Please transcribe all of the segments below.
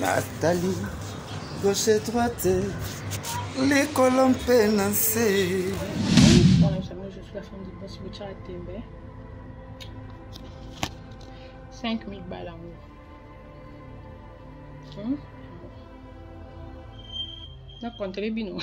natali gauche droite likolo mpe na nse tembe 5000 bala yango hmm? nakontele bino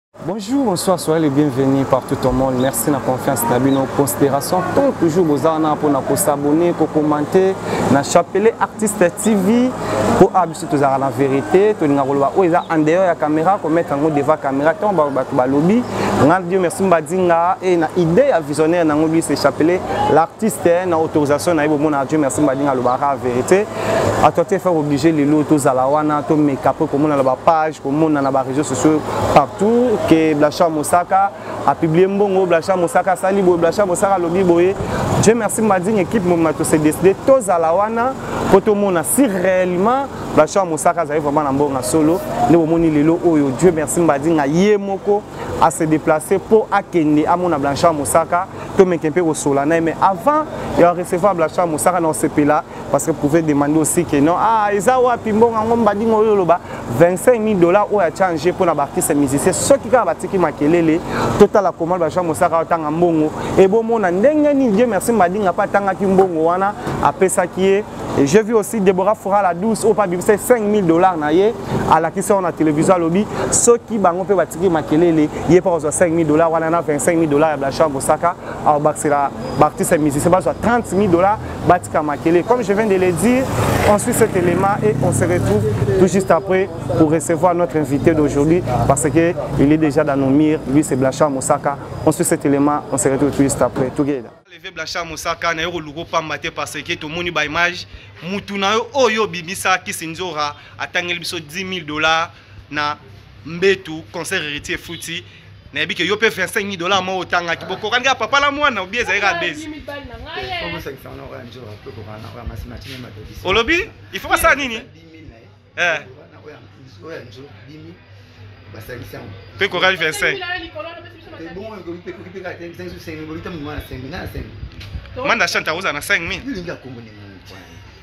Bonjour, bonsoir, soyez les bienvenus partout au monde. Merci na confiance na bino, considération. Tant toujours bozala na pona ko s'abonner, ko commenter na chapelet artiste TV pour abiso tozala na vérité, to linga koloba o eza en dehors ya caméra ko mettre ngo devant caméra tant ba ba ba lobby. Nga Dieu merci mbadinga et na idée ya visionnaire na ngobi c'est chapelet l'artiste na autorisation na yebo mona Dieu merci mbadinga lobara vérité. à toi te faire obligé lelo tozala wana tomeka mpe komona na bapage komona na baréseau sociaux partout ke blacha mosaka apublie mbongo blacha mosaka asali boye blacha mosaka alobi boye dieu merci mading équipe moma tose décide tozala wana mpo tomona si réellement blacha mosaka azali vraiment na mbongo ya solo nde bomoni lelo oyo dieu merci mbadinga ye moko à se déplacer pour akende amona blanchard mosaka tomeke mpe kosola na ye mais avant ya recevoir blanchard mosaka na osepela parce que pouvez demander aussi que non ah eza wapi mbongo yango mbadingo oyo oloba 25 000 dollars oyo achange mpo na baartiste musicien soki kaka batiki makelele totala koma bajean mosaka atanga mbongo ebomona ndenge nini dieu merci mbadinga mpe atangaki mbongo wana apesaki ye Et j'ai vu aussi Deborah Foura la douce au Pabi, c'est 5000 dollars na ye à la qui sort na télévision lobby ceux qui bango pe batiki makelele ye pas 5000 dollars wana na 25000 dollars ya Blacha Bosaka au Baxira Baptiste musicien ba 30000 dollars Batika Makele. Comme je viens de le dire, on suit cet élément et on se retrouve tout juste après pour recevoir notre invité d'aujourd'hui parce qu'il est déjà dans nos murs. Lui, c'est Blanchard Moussaka. On suit cet élément, on se retrouve tout juste après. Together. Levé Blanchard Moussaka, na yoko lugo pamba te parce que to moni ba image mutu na yo oyo bimisa kisinzora atangeli biso 10 000 dollars na mbetu concert héritier efuti nayebi ke yo mpe 25 000 dollars moko otangaki bokokani kaka papa la mwana obi ezali kaka bezi olobi il faut basala nini eh. mpe kokali 25 manda chante akozala na 5 000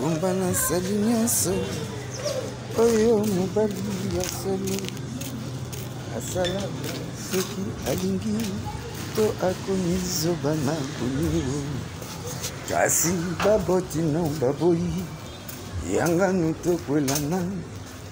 Rumba na sali nyonso oyo mobali ya soni asala soki alingi to akomi zoba na bonio kasi baboti no baboyi yanganu tokwelana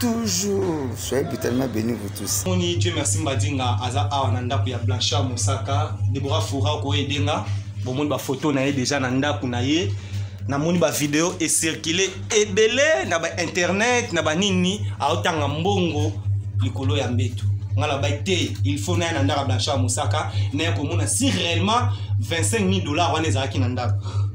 toujours soyez brutalement béni vous tous moni dieu merci mbadinga aza awa na ndako ya blanchard mosaka debora fora okoye edenga bomoni bafoto na ye deja na ndako na ye namoni bavideo ecircule ebele na bainternet na banini aotanga mbongo likolo ya mbetu ngai nabai te il faut naya na ndako ya blanchard mosaka naya komona si réellement 25 000 dollars wana ezalaki na ndako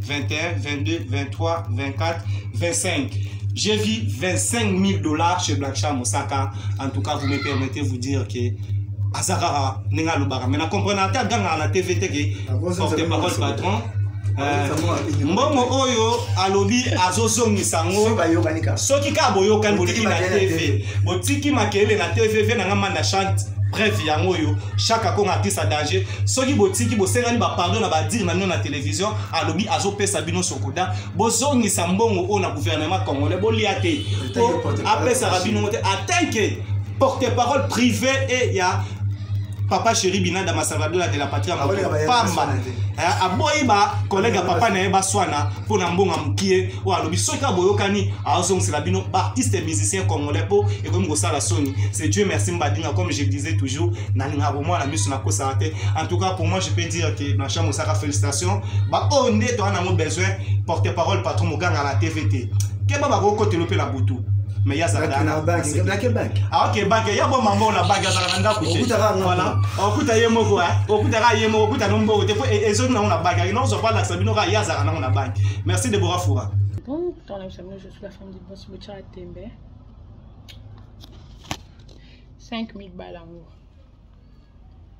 21, 22, 23, 24, 25. J'ai vu 25 000 dollars chez Black Sham Osaka. En tout cas, vous me permettez de vous dire que Azakara Nenga Lubara. Mais na comprenez à la TV que porte-parole patron. Euh, mbongo oyo alobi azozongisa yango soki kaka boyokani boleki na tv botiki makelele na tv ve nanga manda chante bref yango oyo chaque akonga artiste ya danger soki botiki bosengani bapardon na badire na bino na tele télévision alobi azopesa bino sokoda bozongisa mbongo oyo na gouvernement congolais bolia te po apesaka bino ngo te atin ke porte parole privé e ya papa chéri binada masalvadora de la patrie ya moto pamba eh, aboyi bakollege ya papa na ye baswana mpo na mbongo ya mokie oyo alobi soki kaka boyokani azongisela bino baartiste musicien congolais mpo ekomi kosala soni c'est dieu merci mbadinga comme je disais toujours nalingaka komwana miso nakosaka te en tout cas pour moi je peux dire Blanchard Mosaka félicitations ba oyo oh, nde toza nango besoin porte parole patron moganga na tv te keba bakokotelo mpe na butu mais ye azalaka ah, oke banke ya boma mbongo na banke azalaka na ndako te voilà okuta ye moko okutaka ye moko okuta no mbongo te mpo e, ezongi nango na banke akenda kozwa balakisa bino kaka ye azalaka nango na banke merci debora fura bon dans la famille je suis la femme du boss bocha tembe 5000 balles en haut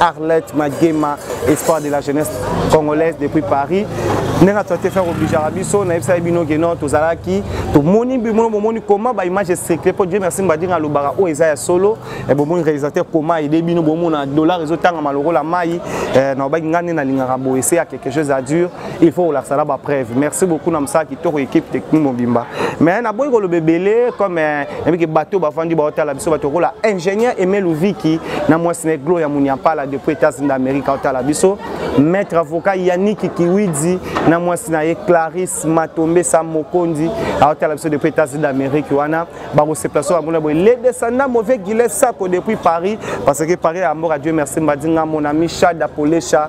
Arlette Magema, espoir de la jeunesse congolaise depuis Paris. ndenge ato te faire obligeaka biso nayebisaki bino ke non tozalaki tomoni bimono bomoni koma baimage esecre mpo dieu merci mbadinga alobaka oyo eza ya solo eh, bomoni réalisateur koma aide bino bomona dollar ezotangama lokola mai eh, nalobaki ngai nde nalingaka boye se ya quelque chose à dure il faut kolakisa na bapreuve merci beaucoup na mosala kitoko équipe technique mobimba mais naboyi koloba ebele comme eh, nabiki bato bafandi baotala biso bato kola ingénieur aimé louviki na mwasi na eglo ya muniampala depuis états-unis d'amérique aotala biso maître avocat yannick kiwidi na mwasi na ye clarisse matombesa mokonzi aotala biso depuis états-unis d'amérique wana bakosepela so bamona boye le descendant mauvais gilet sako depuis paris parce que paris ya mboka dieu merci mbadi ngamona michada polesha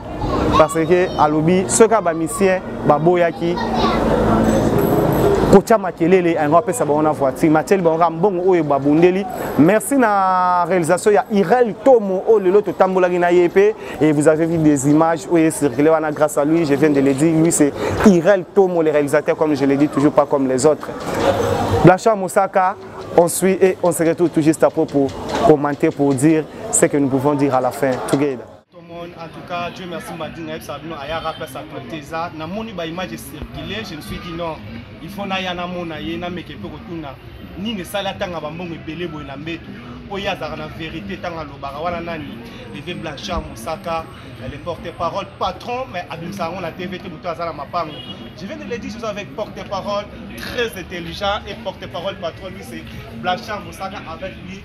parce que alobi soki ya bamisien baboyaki kotya makelele yango apesa bango na voiture matieli bango kaka mbongo oyo babundeli merci na réalisation ya irel tomo oyo lelo totambolaki na ye mpe et vous avez vu des images oyo ecircule wana grâce à lui je viens de le dire lui c'est irel tomo le réalisateur comme je le dis toujours pas comme les autres blanchard mosaka on suit et on se retrouve tout juste après pour commenter pour dire ce que nous pouvons dire à la fin together Tomon, en tout cas, Dieu merci Mbadi na yebisa bino ayaka place actualité eza namoni ba image circuler je me suis dit non il faut naya namona ye nameke mpe kotuna nini esali atanga bambongo ebele boye na mbeto mpo ye azalaka na verité ntango alobaka wana nani leve blanchard mosaka le porte parole patron mais abimisa yango na tv te moto aza na mapango je viens de le dire soza avec porte parole très intelligent et porte parole patron lui c'est blanchard mosaka avec lui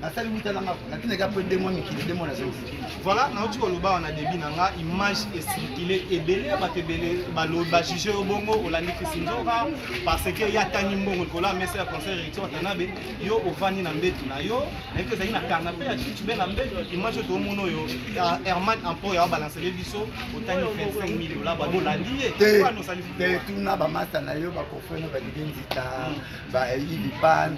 nasali wuta na ngako natindaki apre de mwa mikili de mwa nazongi voilà nauti koloba wana debi na nga image esirkile ebele ya bato ebele bajuge yo bongo olandi kisinzoka parce que ye atangi mbongo likolo ya mesa ya conseil recteur tanabe yo ovandi na mbetu na yo nayebi ezali na kanape ya chichube na mbetu image oyo tomona oyo herman ampo ya balancele biso otangi 25 mil dola babolandi ye te tuna bamasta na yo bakofrena balige nzita bailipan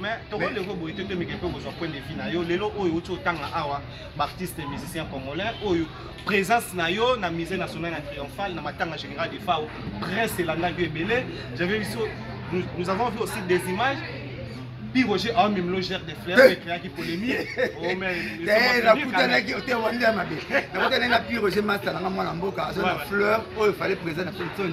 mais tokoki ko boye te tomike mpe kozwa point de vue na yo lelo oyo outi otanga awa baartiste musicien congolais oyo présence na yo na musée national ya triomphal na matanga général de fao presse elandaki ebele j'avais vu nous, nous avons vu aussi des images Puis Roger a même le gère des fleurs, il créa qui polémie. Oh, mais. T'es la putain là qui était Wanda Mabé. La putain là, puis Roger Master, la maman en boca, la fleur, oh, il fallait présent à Fulton.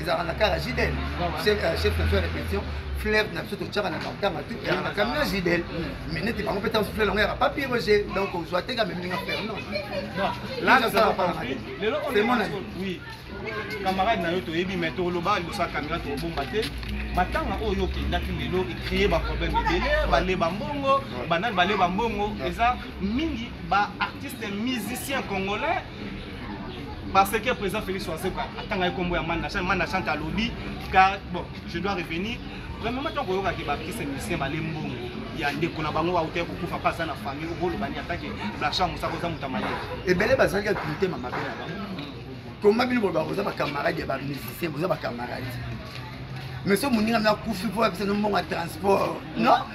ezalaka na kaka jidel chef na biso ya répétition fleuve na biso totyaka na matanga tu yaka na kamina jidel mais neti bango mpe ntango fleuve yango yaka papier roger donc ozwa te kame mininga fer non lazasala palaka te c'est mon ami camarade na yo toyebi mais toloba liboso ya kamera tobomba te matanga oyo okendaki lelo ecree baproblème ebele baleba mbongo banani baleba mbongo eza mingi baartiste musicien congolais parce que le président Félix Oazeko atanga ekombo ya Manda Chante, Manda Chante alobi car bon, je dois revenir. Vraiment tant que yoka ke ba kise musicien ba lembongo ya ndeko na bango auta ko kufa pas na famille au bolo bani attaque la chambre ça koza mutamali. Et belé bazali ka kulite mama bela ba. Comment bino ba koza ba camarades ya ba musiciens, boza ba camarades. Mais ce moninga na kufi pour apesa no mbongo transport. Non?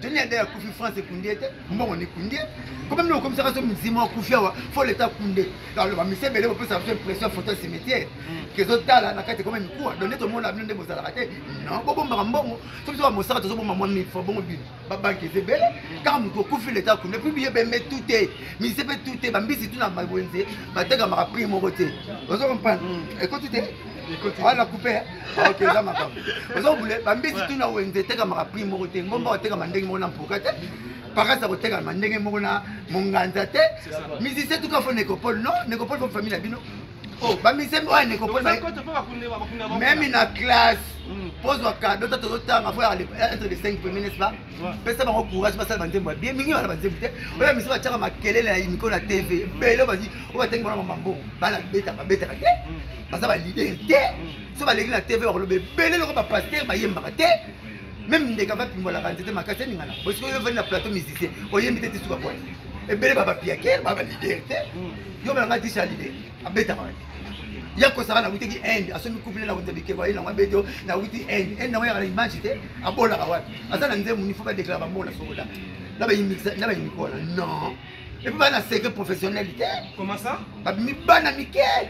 teni ya dai akufi france ekundie te mbongo nikundie koma mino okomisaka so mizima akufi awa fo leta kunde alors bamise ebele bopesa biso impression photo ya cimetière kezotala mm. na kati ekoma mikuwa donde tomona bino nde bozalaka te non bobombaka mbongo so biso bamosaka tozobomba mwa mifo bongo bino babanke eza ebele mm. kaka moto okufi leta akunde puis biye bembe tu te mise mpe tu te bambisi tu na wenze batekamaka prix moko te ozo comprendre mm. ekoti te wana coupe ok eza makambo oza kobule bambisi tuna wenze etekamaka prix moko te ngomba otekama ndenge moko na mpoka te parasi akotekama ndenge moko na monganza te musicien tuka fo necopole non necopole fo famille na bino oh, bamisien oyo necopole meme na classe hmm. pozwa kado ta tozotanga fo entre les 5 premiers n'est-ce pas pesa bango courage basala banzembo ya bien mingi bana banzembo te oyo misu batiaka makelele na miko na tv ebele oyo batangi bona mamambongo bana betaka betaka te baza ba leader te so baleki na tv bakoloba ebele loko bapaster bayembaka te meme ndeka bapimbolaka nzete makasi eningana osiko yo ovandi na plateau musicien oyembi te tisuka bwana ebele babapiake baba leader te yo balanga tisha leader abetaka wapi ya kosaka nawutaki inde asomi couple na wuta bikeko aye nango abeti o nawuti inde inde nango yaka na image te abolaka wapi aza na nzembo nifo badeklara bamona sokola na bayimikola non epuis bana secret professionnel te babimi bana mike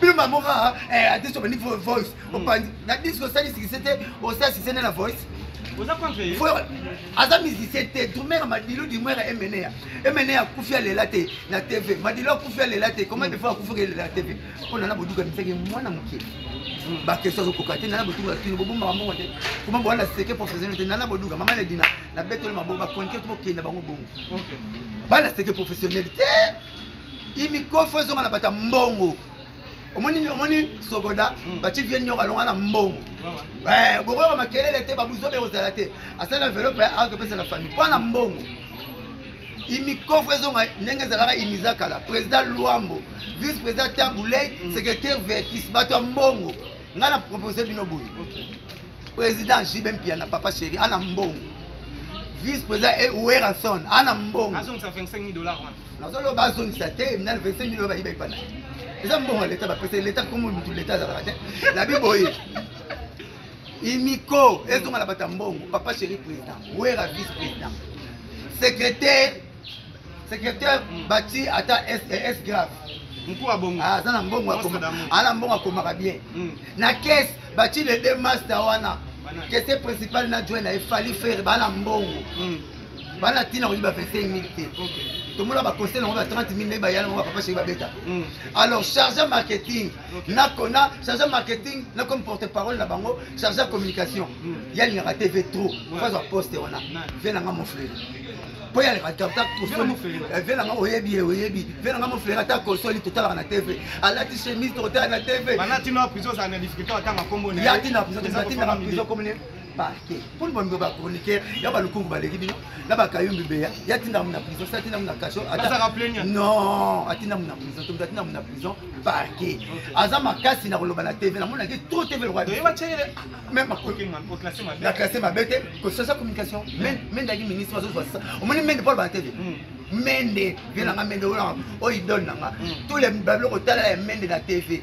bino bango kaka eh, artiste obandi voice hmm. opanzi na disque osali sikise te osala sikise nde na voice aza musicien te drumera madilu dimwera emenea emenea akufi alela te na tv madilu akufi alela te comment de fois akufaki elela tv mpo nana boduka misaki mwana moke hmm. bakestion azokoka te nana boduka kino bobombaka mbongo te koma bowana seke professionnel te nana boduka mama ledina na betoli mabongo bakonike to bokenda bango bongo bana seke professionnel te imikofo ezonga na bata mbongo omoni omoni sogoda hmm. bati vie nyoka alonga na mbongo eh, bokoyoka makelele te babuzobe ekozala te asala envelope azopesa na famille mpo na mbongo imikofu ezonga ndenge ezalaka imiza kala président luambo vice président tabuley hmm. secrétaire vertis bato ya mbongo ngai na propose bino boye président jibe mpiana papa chéri ana mbongo vice président e weranson ana mbongo nazoloba azongisa te minal 25 milo bayiba epana eza mbongo ya leta bapesa leta komo mutu leta azalaka te labi boye imiko ezonga na bato ya mbongo papa chéri président wera vice président secrétaire secrétaire bati ata s eh, grave ah, aza na mbongo ana mbongo akomaka bien hmm. na kese bati le deux master wana kese principal na join na efali fere bana mbongo hmm. bana tina koyi ba 25 mille te tomona baconcert yango ba 30 mille naye bayala yango bapapa sheri babeta mm. alors charge marketing nakona charge marketing na comme porte parole na bango charge communication mm. yalingaka tv trop fazwa poste wana vie nanga moflele mpo yalingaka ta kosoli eh, vie nanga oyebi ye oyebi vie nanga moflele ata kosoli totalaka na tv alati chemise totala na tv ya tina prison toatindaka prison komine parquet mponi bambe ba chroniqueur ya balukungu baleki bino na bakayumbi beya ye atinda mu na prison si atinda mu na kaso non atinda mu na prison tomoto atinda mu na prison parquet aza makasi na koloba na tv namonaki to tv na classe mabe te kosasa communication mendaki ministre bazozwa sasa omoni mende polo bana tv mende vie nanga mende oyo idole nanga tous les babiloko otalala ya mende na tv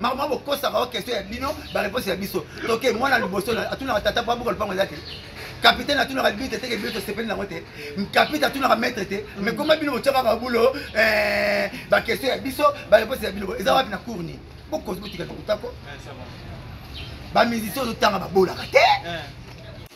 makambo bokosaka o question ya bino bareponse ya biso toke mwana liboso atunaka tata po abuka lopango eza te kapitaine atunaka bite teke bino tosepeli nango te kapite atunaka maître te mais koma bino botya kaka bulo eh, baquestion ya biso bareponse ya bino eza wapi na cour nini bokozi botika tokotako bamusicien ozotanga babolaka te eh.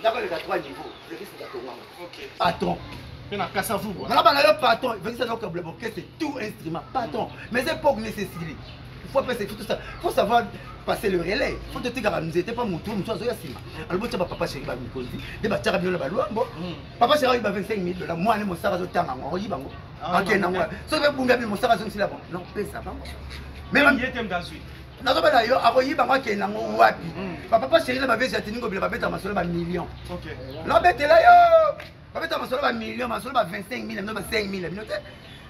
ndako eleka trois niveau vekisi katongama patron na kasa vuba na bana yo patron vekisa na okabula orchestre tout instrument patron mais époque nécessité il faut apesa tout ça faut savoir passer le relais faut totikaka nzete mpa motu mosusu azoya nsima alobi otya bapapa sheri bamikonzi nde batyaka bino na balwambo papa sheri ayiba 25 mille dola mwana mosaka azotanga yango akoyiba yango akenda yango soki bebunga bino mosaka azongisila bango non pesa bango nazoba na yo akoyiba ngo akende yango wapi hmm. papa pa chéri na bavesi ya tiningo bila babeta masolo ba million nabetela yo babeta masolo ba million masolo ba 25 mille bino ba 5 mille bino te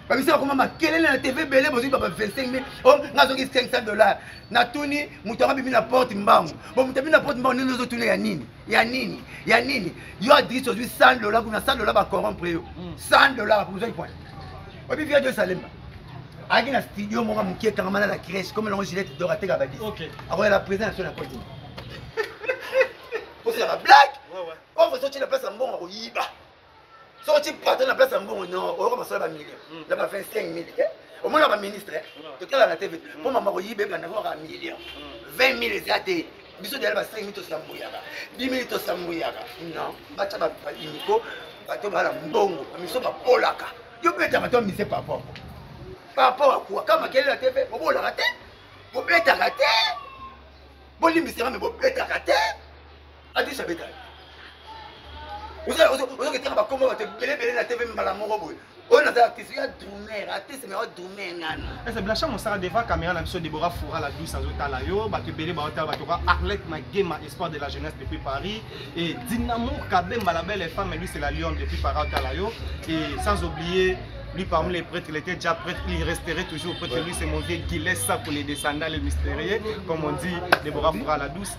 babisi bakoma makelele na tv ebele bozwi baba 25 mille o oh, nga azongi 500 dollars natuni moto yango abimi na porte mbangu bo moto abimi na porte mbangu nini ozotuna ya nini ya nini ya nini yo adrisi ozwi 100 dola kuna 100 dola bacorrompre yo 100 dola ozwaki pona oyebi via de salemba ayaki na studio moko moke ekangamana na crèche comme elongo gilete dor ateka badis akoyala président na so na kodima osilaka blague pauvre soki na place ya mbongo akoyiba soki ti patron na place ya mbongo no oyoka masolo ba million hmm. na ba 25 mille te omona ba ministre hmm. totala na tv mpo hmm. mama koyiba ebanda kaka million 20 mille eza te biso deyali ba 5 mille tosambuyaka 10 mille tosambuyaka non batya baimiko bato bala mbongo bamiso bapolaka yo betaka to mise papa papa wakuwa ka makelele ya tv bobolaka te bobetaka te bolimbisaka me bobetaka te adis abeta ozoketaka bakoma bato ebelebele na tv mbala moko boye oyo naza artiste ya drumer artiste mea drumer ngana ese blanchard mosala devant caméra na biso debora fora la douce azotala yo bato ebele baotala bato ka arlette magema espoir de la jeunesse depuis paris e dinamo kabemba la belle femme lui c'est la lion depuis paris otala yo e sans oublier Lui, parmi les prêtres, il était déjà prêtre, il resterait toujours prêtre. Lui, c'est mon vieux Guillet Sapo, les descendants, les mystérieux, comme on dit, Déborah Foura la douce.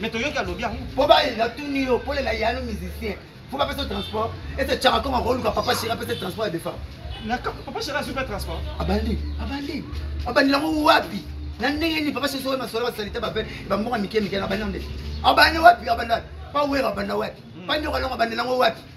mais toyoki alobi yango mpo baye natuni yo pole na yano musicien fo bapesa transport ete tyaka kongo akoluka papa sheri apesa transport ya defa papa sheri azopa transport abandi abandi abandi yango wapi na ndenge nini papa sheri soki masolo basalite bape bamboka mike mike abandi yango nde abandi wapi abanda pa wera abanda wapi hmm. pa nyoka longo abandi yango wapi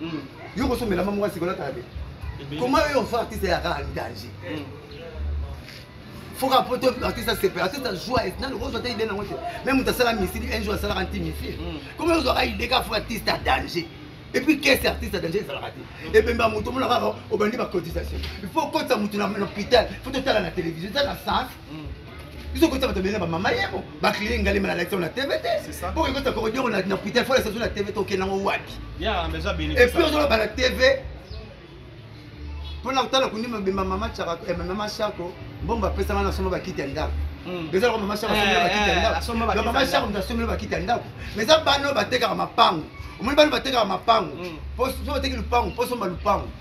mm. yo kosombela mama mwasi kolataka te koma yo ofa artiste ya kaka danger mm. foka po to artiste asepela artiste azwa nano kozwa te ide nango te me moto asala misili un jour asalaka nti misili koma ozwaka ide ka fo artiste ya danger epuis kese artiste ya danger ezalaka te ebemba moto omona kaka obandi bacotisation il faut okotisa moto na hôpital fo totala na télévision eza na sens biso kotisa bato bele bamama yebo baclini ngali mala lakisa na tv te po ekota kokodiongo na putel fo lakisa zo na tv te okenda ngo wapi epuis ozoloba na tv mpo na kotala kundi mabemba mama chako eh, mama chako mbongo bapesanga na soma bakiti ya ndako hmm. eza loko mama chako asomeli eh, bakiti ya eh, ndako mama chako moto asomeli bakiti ya ndako ma eza bana oyo batekaka mapango omoni bana batekaka mapango mpo hmm. soki bateki lupango mpo somba lupango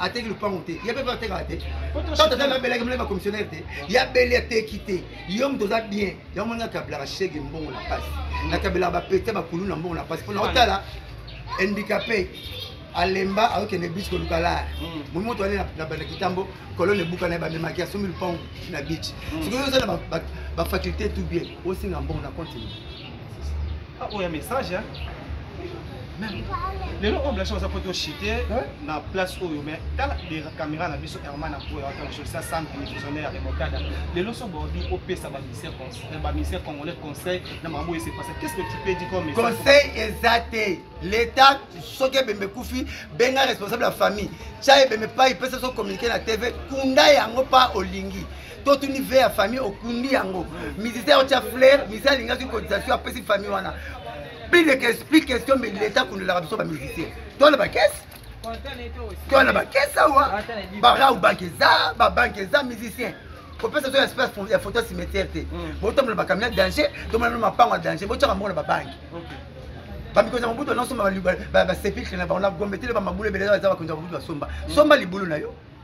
ateki lupango te ye mpe atekaka te tata na belaki mlai bacommissionnaire te ya bele ateki te yo moto oza bien yango moni nakabelaka shege mbongo na mpasi nakabelaka bapete bakulu na mbongo na mpasi mpo na otala handicapé alemba akokende bis koluka lar momi moto ale na banda kitambo kolone ebuka na ye bamemaki asombi lupango na beach sikoyo oza na bafaculté tout bien osinga mbongo na continue Ah, oyo message hein? lelo oyo blache oza poti ochite na place oyo mais tala caméra na biso herman na boya watansolisa centre divisionnaire ya remocada lelo so baobi opesa baministère congolais conseil na makambo oyo esepasa qu'est ce que tu peux dire comme conseil eza te l'état soki ebembe ekufi benga responsable ya famille tya ebembe pai pesa so communiqué na tv kunda yango mpa olingi totuni ve ya famille okundi yango musicien otya flair musicien alingaki cotisation apesi famille wana plus de plus question mais leta akundolaka biso bamusicien tona bakese tona bakese awa barau banke eza babanke eza musicien kopesa so espace ya photo ya cimetière te mm. botombola bakamio ya danger tomona no mapango ya danger botyaka mbongo na babanki bamikonzi ya mobutu banasomba basepikre na bango na gombe te le bamabulu ebele eza bakonzi ya mobutu basomba mm. somba libulu na yo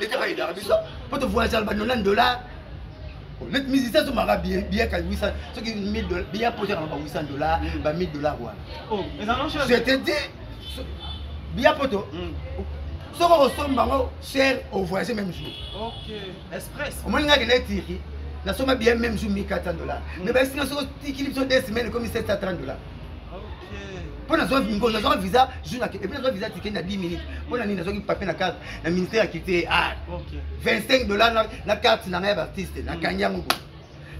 leta bayedaka biso mpo tovoyagaka bando na dollar net musicien azomaka biyaka 800 soki biya mpo ezaka ba 800 dollar mm. ba 1000 dollar wana oh, je te dis biya poto mm. soki okosomba yango cher ovoyage même jour omoni ngaki na etiki nasomba biya même jour 1400 dollar mm. mais bayesinga soki otikili biso 2 semaine ekomi 730 dollar mpo nazwa ngo nazwaka visa jour na epuis nazwa visa tikende na 10 minutes mpo na nini nazwaki papier na carte na ministère ya culture et art 25 dollar na carte na ngai ya baartiste nakangi yango boye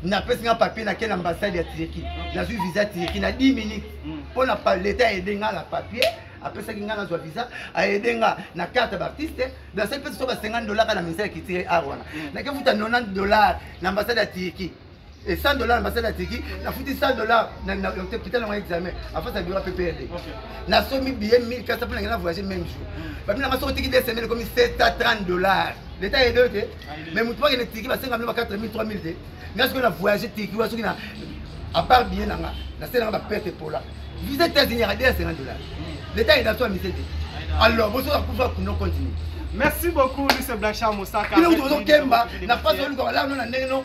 napesi nga papier nake na ambassade ya turki nazwi visa turki na 10 minutes mpo na leta aide nga na papier apesaki nga nazwa visa aide nga na carte ya baartiste nasaki mpe so ba 50 dollar kaka na ministère ya culture art wana nakefuta 90 dollar na ambassade ya turki et 100 dollars ambassade ya tiki nafuti 100 dollars hôpital yango examen afasi ya biro pprd nasomi billet 1400 mpo nangena voyage même jour babi nanga soki otiki de semaine ekomi 730 dollars leta ede te mais motu bakende tiki basenga bino ba 4000 3000 te nga soki na voyage tiki wa soki na apart billet nanga nasenanga baperte epola visa états-unis yaka 250 dollars leta ede aso amise te alors bosoki akufa kuno continue merci beaucoup lise blanchard mosaka bino kutu bozokemba na pasi oluka balano na ndenge no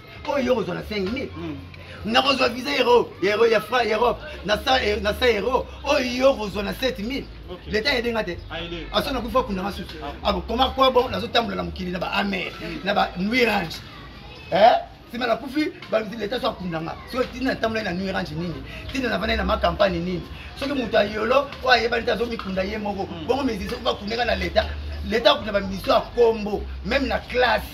oyo yo kozwa na 5000 hmm. nakozwa visa ero ero ya fra europe na sa eh, ero oyo yo kozwa na 7000 leta ayede nga te aso nakufi akunda nga susu ah. akokoma kwa bon nazotambola na mokili na ba amer hmm. na ba nuirange eh? nsima nakufi leta so akunda nga soki ntina natambolai na nuirange nini ntina navandai na makampagne nini soki moto ayolo oyo ayebani te azomikunda ye moko hmm. bongo mizisa oyo bakundaka na leta leta akunda bamiso ya kombo meme na classe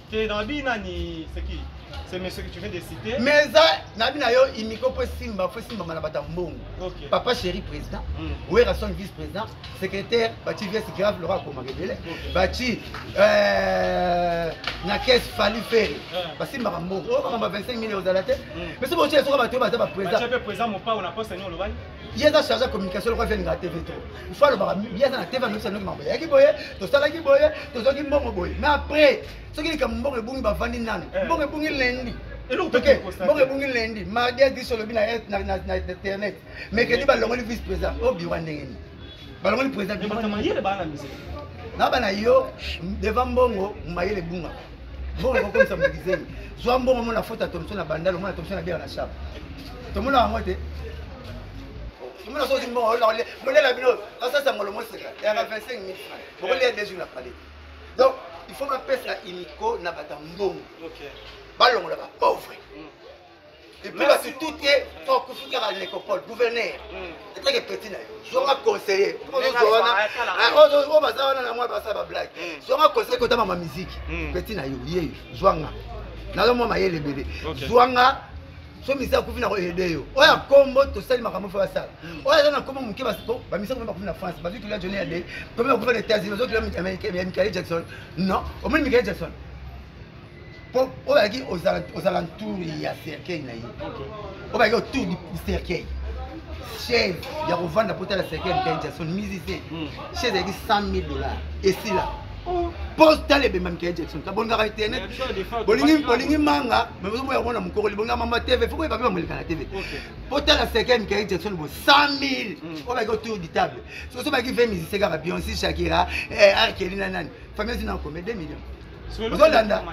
Te na bi nani c'est qui C'est monsieur que tu viens de citer. Mais ça, nabi na yo imiko po simba, po simba mana bata mbongo. Okay. Papa chéri président, mm. Werrason vice président, secrétaire, bati vice grave Laura Koma Rebele, okay. bati euh na caisse Fally Ferre. Yeah. Ba simba mbongo, oh kama 25 millions ozala te. Mm. Mais sobo tshela soka bato baza ba président. Ba tshela président mon pa on a pas saigné le bail. ye aza charge ya communication loko afia lingaka tv to ifo alobaka ye aza na tv anoki sanoki mambo yaki boye tosalaki boye tozwaki mbongo boye mais après soki likambo mbongo ebungi bavandi nani eh. mbongo ebungi lendi toke mbongo ebungi lendi mardi adis olobi na internet mercredi balongoli vice président o oh, biwa ndenge nini balongoli président na bana yo devant mbongo mayele ebungaka mbongo ekokomisa moto kizengi zwa mbongo mona foti ya tomso na bandalo mona tomso na biaka na shap tomona yango te tomona soki mbongo bolela bino kasasa ngolo moseka yaka 25 mille franc bokolia deux jours na palais donc il faut bapesa iniko na bato ya mbongo balongola bapauvre mm. epuis basutu te okufuta ba necopole gouverneur etake peti na yo zonga conseiller ozo wana oyo baza wana na mwa basala bablage zonga conseiller kota mama miziki peti na yo ye zwanga nazo mwa mayele ebele zwanga so misa akufi na koyede yo oyo ya nkombo tosali makambo fo basala hmm. oyo aza na nkombo moke bamisa komi bakufi na france bazwi tolia joni ya de komi bakufi na états-unis bazwi tolia ya mikale jackson non omoni mikale jackson po oyo ayaki ozala ntour ya cercueil na ye oyo bayaki otour du cercueil chaise ya kovanda po tala cercueil ya mikael jackson musicien hmm. chaise ayaki 100 000 dollars esila oh. po tala ebemba mikael jackson kabongaka internet bolingi manga maozomoya komona mokokoli bonga mama tv fo koyeba mpe bamoleka na tv po tala cercueil ya mikael jackson bo 100 000 hmm. oyo bayaki otour du table soso bayaki 20 musicien kaka bionsi shakira eh, arkeli na nani famille zina okome 2 millions ozolanda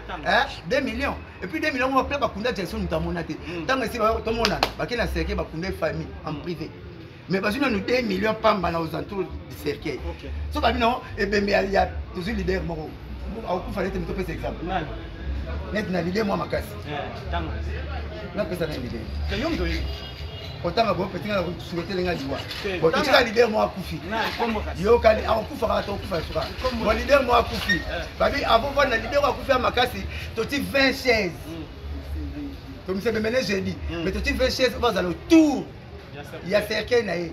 2 millions epuis 2 millions ngo bapla bakunda jackson moto amona te ntango esi tomonana bake na cercueil bakunda ye famille en privé mais bazwi nanu 2 millions pamba na aux entours du cercueil so babi nango ebembe ya tozwi leader moko akokufa nete moto opesa exemple neti na lide mwa makasi napesa na lide otanga bo petinga na suketele nga liwa bo totika leader mo akufi yokani akokufa kaka tokufa suka bo leader mo akufi eh. babi avant vanda leader mo akufi ya makasi toti 20 chaise tomisebemene jeudi mais toti 20 chaise bazala autour ya cercueil na ye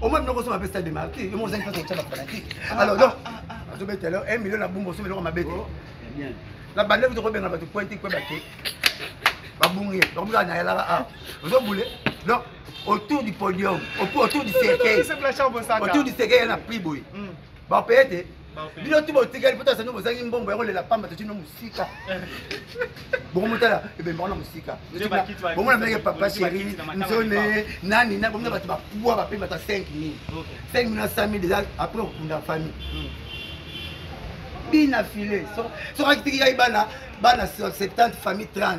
omoi biloko so mapesa de marti yo moko ozangi mpasi kotya bafanatique alors donc azobeta elo 1 million na bumba osomi eloko mabe te na bande kutu kobenga bato pointi kue bake babungi ye donc mizala nayalaka a ozobule donc autour du podium autour du cercueil autour du cercueil ye na prix boye bapeye te bino tu botikali mpota sani bozangi mbongo ya kolela pamba totino mosika bokomotala ebembaka na mosika bomona meke papa sheri nzone nani na bomona bato bapuwa bape bata 5 mil 5 mil na 100 mil eza apres okunda famille hmm. bina file soki akitiki yai bana bana 70 famille 30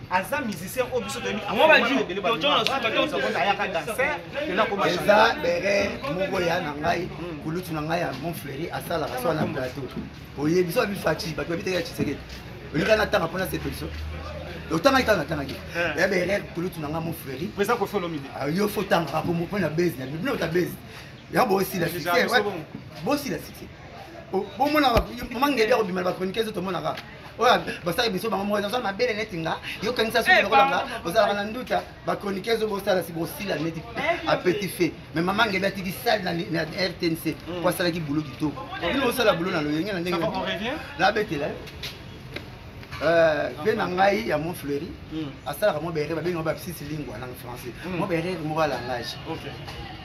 aza musicien oyo biso toyebiayaka danser eza bere moko ya na ngai hmm. kulutu na ngai ya monfleri asalaka swa na plateau oye biso abi faci bato babitaki ya tshisekedi olinga natanga mpona sepeliso otangaki kaka natangaki eh. ya bere kulutu na ngai monfleri ah, yo fo tangaka po mpona base na bino ta base ya bosila succès bosila succès bomonaka mangedi akobima na bachroniqueuse tomonaka oyo basala biso bango moko naza mabele neti nga yokanisa soki nakolanga ozalaka na nduta bakronike ezo bosala si bosila neti apeti fe mais mama ngebe atiki sale na rtnc po asalaki bulo kitoko bino bosala bulo na loyenge na ndenge nabetela be na ngai ya mont fleury asalaka mo berere babengi ngo bapsisi lingua na français mo berere moko ya langage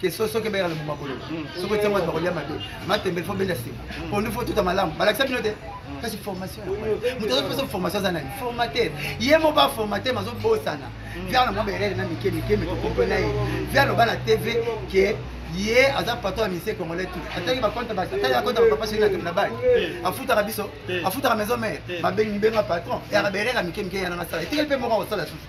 question soki ebengaka na bomakolo mm. soki otia moto bakolia mabe matembe fo benda sima mm. pondu fo tuta malamu balakisa bino te mm. kasi formation moto azopesa formation aza nani formateur ye moko aformate mazobosana viana mwa berere na mike mike metokompe na ye viana oba na tv ke ye aza patron ya misie congolais tout ataki bakonte ataki bakonte bapapa soki natembe na bale afutaka biso afutaka maison mare babengi benga patron eyaka berere ya mike mike yananga sala etikeli mpe moko akosala susu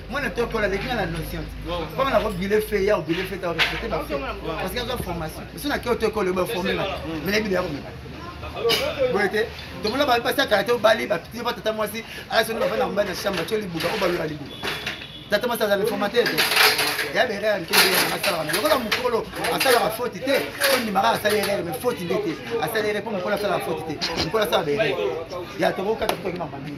mwana to ekola aleki nga na notion koma nako bile fe ya obile fe ta respecte ba fe parce que aza formation so na keo to ekola oba forme nga mais na bile ya komeka boye te tomona bali pasi akala te obali bapiti ba tata mwasi ala soni bafanda mobali na chambre tio libuka o balola libuka tata mwasi aza reformateur te ya bere ya mike ndenge nanga asalaka na lokola mokolo asalaka foti te ondimaka asali erere mai foti nde te asali erere mpo mokolo asalaka foti te mokolo asala bere ya tokokata tokokima mabini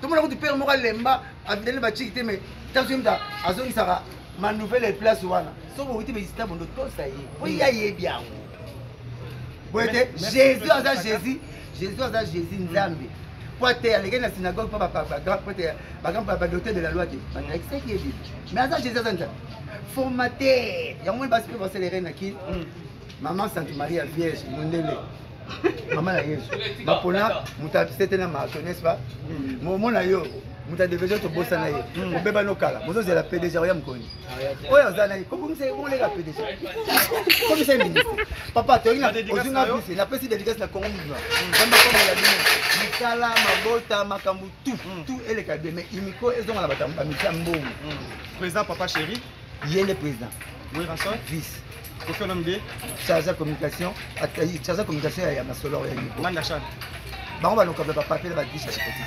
tomona kutu pere moko alemba avindani baciki te mai tasuyemta azongisaka manouvelle ya place wana soki owiti baisita bondo tosa ye mpo ye ayebi yango boye te jésus aza jésus jésus aza jésus nzambe mpo ate alekei na synagogue mpo badote de la loi te bandakisaki ye bibi mais aza jésus aza nzambe formateur yango moni basi mpe baselere na kini mama sante maria vierge mondele mama na yesu bapona moto asete na marto n'est-ce pas hmm. momona yo moto adeveje tobosana ye hmm. obeba nokala bozozela pdg oya mokoni ah, oyo aza nani kokomisa ye boleka pdg komisa ye ministre papa toyinga ozinga bise napesi dedicace na congo mobima nzambe akomela bino misala mabota makambo tu tu eleka bie mais imiko ezonga na batambo bamisa mbongo présent papa chéri yende président werrason vice kofi olomide charge ya communication charge ya communication ya masolo ya nibo manda chan bango balokaka bapapier na badisha ekoti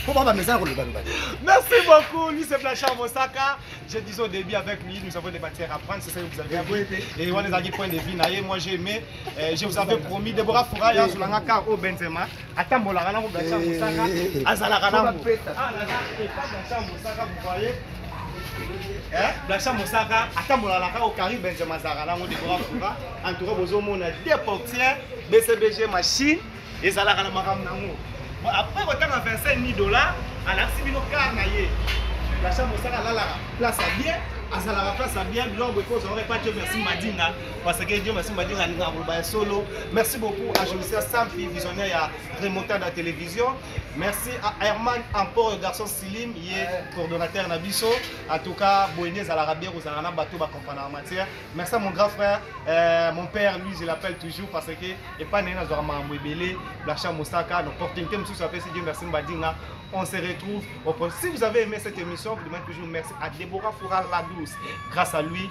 mpo bango bamesana kolobaloba merci beaucoup lui c'est blanchard mosaka je dis au début avec lui nous avons des matières à prendre c'est ça que vous avez dit et wana ezalaki point de vue na ye moi j'ai aimé euh, je vous avais promis deborah foura ya azolanga car au benzema atambolaka nango gacia mosaka azalaka nango blacha mosaka atambolaka na kaka carrie benjamin azalaka nango dekora fura en tout cas bozomona de portier bcbg machine ezalaka na makambo nango après kotanga 25 000 dollars alakisi bino kar na ye blacha mosaka alalaka place ya bien azalaka place ya bien biloko bokozwa ore patio merci madinga parce que Dieu merci madinga alinga koloba ya solo merci beaucoup à Jolisia Sampi visionnaire ya remontada télévision merci à Herman Ampor le garçon Silim ye coordonnateur na biso en tout cas boyende ezalaka bien kozala na bato bakomprendre na matière merci à mon grand frère euh, mon père lui je l'appelle toujours parce que epai na ye nazwaka makambo ebele blacha mosaka na opportunité mosusu apesi Dieu merci madinga on se retrouve au prochain si vous avez aimé cette émission vous demandez toujours merci à Deborah Foura la douce grâce à lui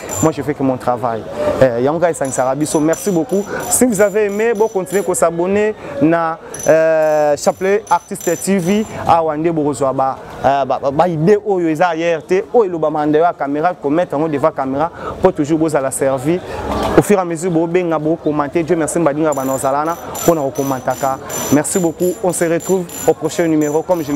moi je fais que mon travail eh, yango kaka esangisaka biso merci beaucoup si vous avez aimé bo continuer ko s'abonner na euh, chapelet artiste tv awa nde bokozwa ba euh, ba, ba, ba idée oyo eza ailleurs te oyo elobama ndeyo ya caméra komettre yango devant caméra mpo toujours bozala servi au fur et à mesure bobenga bokomante dieu merci mbadinga bana ozalana mpo na kokomantaka merci beaucoup on se retrouve au prochain numéro comme je l'ai